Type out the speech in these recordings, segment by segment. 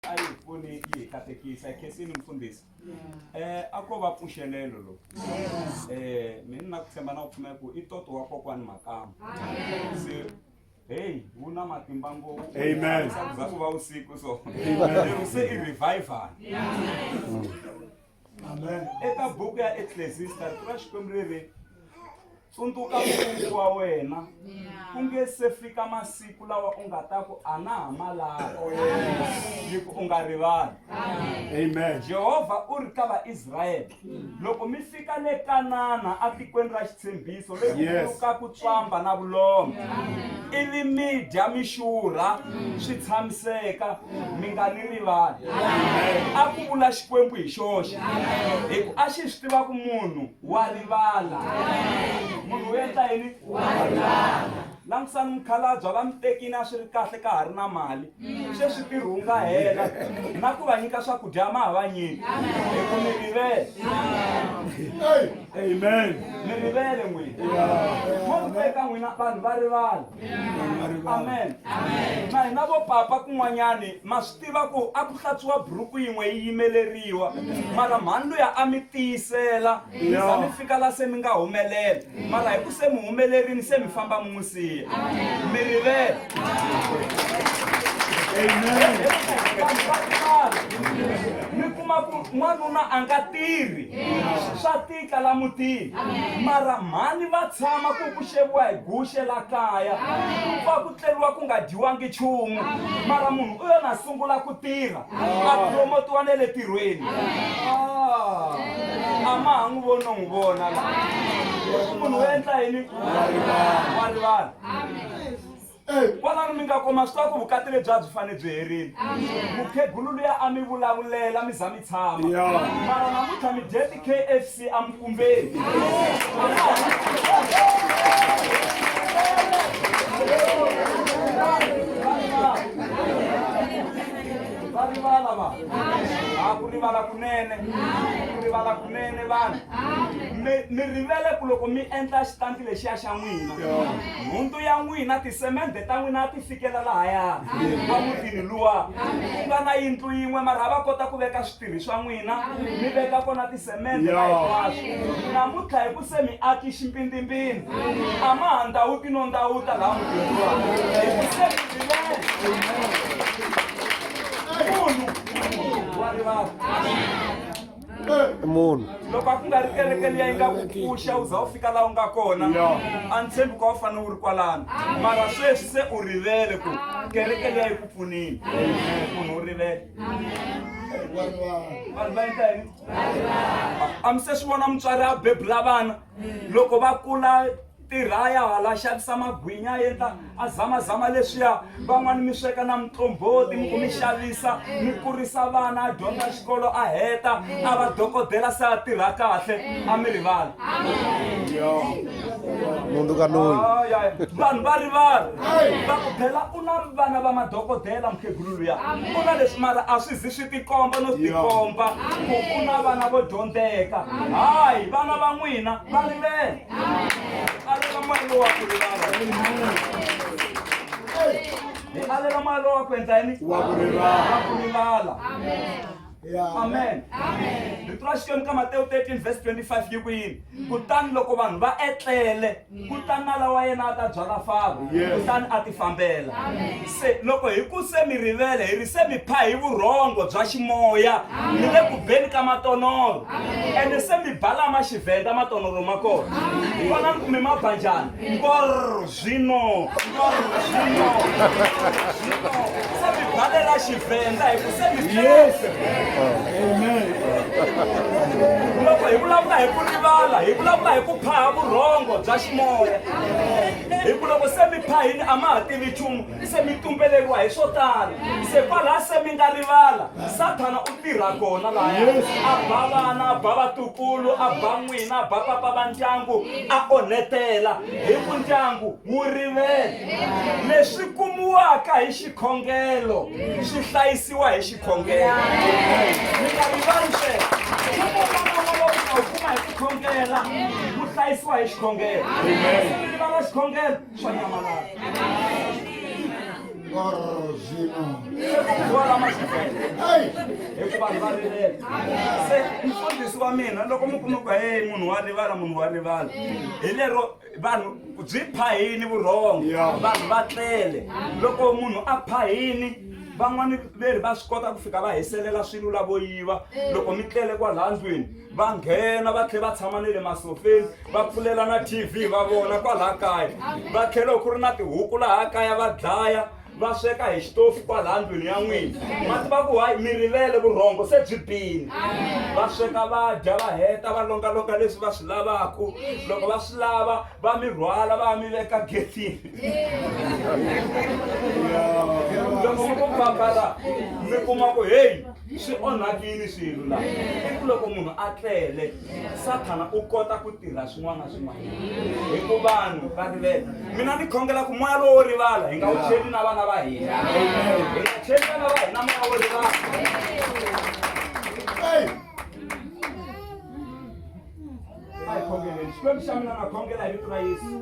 a yi pfuni yi hi katekisa khensini mfundhisi eh a ko va pfuxelelo lo eh mina na ku tshemba na ku pfumela ku i toto wa kokwani makama se hey wu na matimba ngopfu Amen. za ku va usiku so Amen. se i revival eka buku ya eklesista rito ra xikwembu ri ri tsundzuka mungu wa wena ku nge se fika masiku lawa u nga ta ku a na ha malava yi ku u nga rivali amen jehovha u ri ka vaisrayele loko mi fika le kanana etikweni ra xitshembiso lekuuka ku tswamba na vulombe ivi mi dya mi xurha swi tshamiseka mi nga ni rivali a ku vula xikwembu hi xoxe hi ku a xi swi tiva ku munhu wa rivala munhu u endla yini wa rivala langutisani mukhalabye va mi tekini a swi ri kahle ka ha ri na mali sweswi ntirho wu nga hela na ku va nyika swakudya ma ha va nyiki hi ku mi rivele amen mi rivele n'wina mo ri teka n'wina vanhu va rivala amen na hina vo papa kun'wanyani ma swi tiva ku a ku hlatsuwa buruku yin'we yi yimeleriwa mara mhani luya a mi tiyisela mi za mi fika la se mi nga humelela mara hi ku se mi humelerini se mi famba mi n'wi siya mi rivele mi kuma ku n'wanuna a nga tirhi swa tika tlala mutini mara mhani va tshama ku ku xeviwa hi guxe la kaya ku pfa ku tleriwa ku nga dyiwangi nchumu mara munhu u yona a sungula ku tirha a promotiwa ne le tirhweni ah, a ma ha n'wi voni no n'wi vona la munhu u endla yini wa rivala Eyi, kwalano mi nga kuma swa ku vukati lebyi a byi fane byi herile. Mukhegulu luya a mi vulavulela mi za mi tshama. Ya. Mara namuntlha mi dye ti-KFC emukumbeni. Va rivala va. A ku rivala kunene. Ku rivala mene vanhu mi mi rivele ku loko mi endla xitanti lexiya xa n'wina nhundzu ya n'wina tisemende ta n'wina a ti fikela lahaya wa mutini luwa ku nga na yindlu yin'we mara a va kota ku veka switirhi swa n'wina mi veka kona tisemende na hinkwaswo namuntlha hi ku se mi aki ximpindimpindi a ma ha ndhawuti no ndhawuta laha mutini luwa hi ku se mi rivele munhu wa rivala i munhu loko a ku nga ri kereke liya yi nga ku pfuxa u za u fika laha u nga kona a ni tshembi ku a wu fanele u ri kwalano mara sweswi se u rivele ku kereke liya yi ku pfunile munhu u rivele vanhu va endla yini a mi se swi vona mutswari a bebula vana loko va kula tirha ya hala xavisa magwinya a endla a zamazama leswiya van'wani mi sweka na mutlomboti mi ku mi xavisa mi kurisa vana a dyondza xikolo a heta a va dokodela se a tirha kahle a mi rivala mundu ka loyi vanhu va rivala va ku phela u na vana va madokodela mukhegulu luya u na leswi mara a swi zi swi tikomba no tikomba ku u na vana vo dyondzeka hayi vana va n'wina va rivele Alela mali lowa ku rivala. Alela mali lowa ku endla yini? Wa ku rivala. Wa ku rivala. Amen. amen rito ra xikwembu ka matewu 13 vhesi 25 yi ku yini mm. kutani loko vanhu va etlele mm. kutani na lawa yena a ta byala faro kutani a ti fambela Se, loko hi ku se mi rivele hi ri se mi pha hi vurhongo bya ximoya mi le ku beni ka matonoro ene se mi balama xivhenda matonoro ma kona vonani ku mi ma ba njhani ngor zwino ngor zwino zwino se mi balela xivhenda hi ku se mi byese loko hi vulavula hi ku rivala hi vulavula hi ku phaha vurhongo bya ximoya hi ku loko se mi phayini a ma ha tivi nchumu se mi tumbeleriwa hi swo tala se kwalaha se mi nga rivala sathana u tirha kona lahaya a ba vana a ba vatukulu a ba n'wina a ba papa va ndyangu a onhetela hi ku ndyangu wu rivele leswi kumiwaka hi xikhongelo swi hlayisiwa hi khongela mi nga rivali sweswo loko vana va va ku va kuma hi ku khongela ku hlayisiwa hi xikhongelo sivili va va xikhongelo swa nyamalala hikuva va rivele se mfundhisi wa mina loko mi kuma ku heyi munhu wa rivala munhu wa rivala hi lero vanhu byi phayini vurhongo Yeah. vanhu va tlele loko munhu a phayini van'wani veri va swi kota ku fika va hiselela swilo lavo yiva loko mi tlele kwalaha ndlwini va nghena va tlhe va tshama ne le masofeni va pfulela na tv va vona kwalaha kaya va tlhela ku ri na tihuku laha kaya va dlaya va sweka hi xitofu kwalaha ndlwini ya n'wina ma tiva ku hayi mi rivele vurhongo se byi bini va sweka va dya va heta va longalonga leswi va swi lavaku loko va swi lava va mi rhwala va mi veka getini loko mi ku famba la mi kuma ku heyi swi onhakini swilo la i ku loko munhu a tlele sathana u kota ku tirha swin'wana na swin'wanyana hi ku vanhu va rivele mina ni khongela ku moya lowo rivala hi nga wu cheli na vana va hina hi nga cheli vana va hina moya wo rivala a hi khongeleni xikwembu xa mina na khongela hi vito ra yesu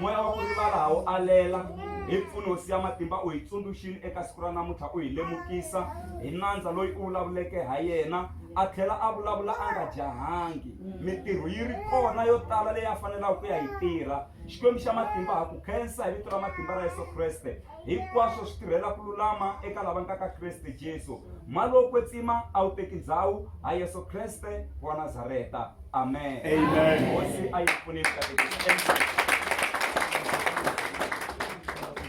moya wa ku rivala ha wu alela hi mpfunosi ya matimba u hi tsundzuxini eka siku ra namuntlha u hi lemukisa hi nandza loyi u vulavuleke ha yena a tlhela a vulavula a nga jahangi mintirho yi ri kona yo tala leyi a fanelaka ku ya yi tirha xikwembu xa matimba ha ku khensa hi vito ra matimba ra yesu kreste hinkwaswo swi tirhela ku lulama eka lava nga ka kreste jesu maloko kwetsima a wu teki ndhawu ha yesu kreste wa nazareta amen Amen. hosi a yi pfunisa